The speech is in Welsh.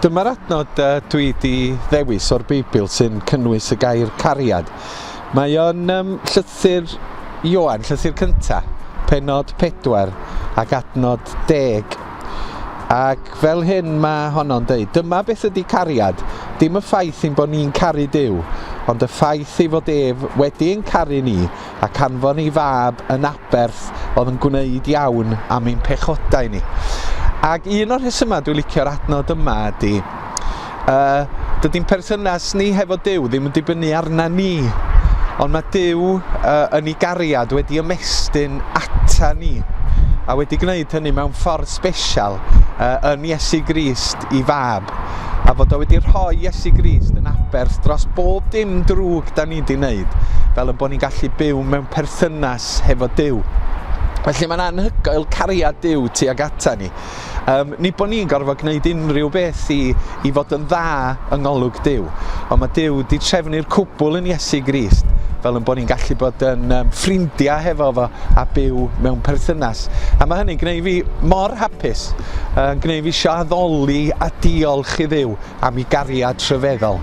Dyma'r adnod uh, dwi wedi ddewis o'r Beibl sy'n cynnwys y gair cariad. Mae o'n um, llythyr Ioan, llythyr cynta, penod 4 ac adnod 10 Ac fel hyn mae honno'n dweud, dyma beth ydy cariad, dim y ffaith ein bod ni'n caru Dyw, ond y ffaith ei fod ef wedi ein caru ni ac anfon ei fab yn aberth oedd yn gwneud iawn am ein pechodau ni. Ac un o'r rhesymau dwi'n licio'r adnod yma ydy, A dydy ein perthynas ni hefo Duw ddim yn dibynnu arna ni, ond mae Duw uh, yn ei gariad wedi ymestyn ata ni a wedi gwneud hynny mewn ffordd special uh, yn Iesu Grist i fab a fod o wedi rhoi Iesu Grist yn aberth dros bob dim drwg da ni wedi wneud fel yn bod ni'n gallu byw mewn perthynas hefo Duw. Felly mae'n anhygoel cariad Duw tuag ata ni. Um, ni bod ni'n gorfod gwneud unrhyw beth i, i fod yn dda yng ngolwg Dyw, ond mae Dyw wedi trefnu'r cwbl yn Iesu Grist fel yn bod ni'n gallu bod yn um, ffrindiau hefo fo a byw mewn perthynas. A mae hynny'n gwneud fi mor hapus, yn uh, gwneud fi eisiau addoli a diolch i ddiw am ei gariad rhyfeddol.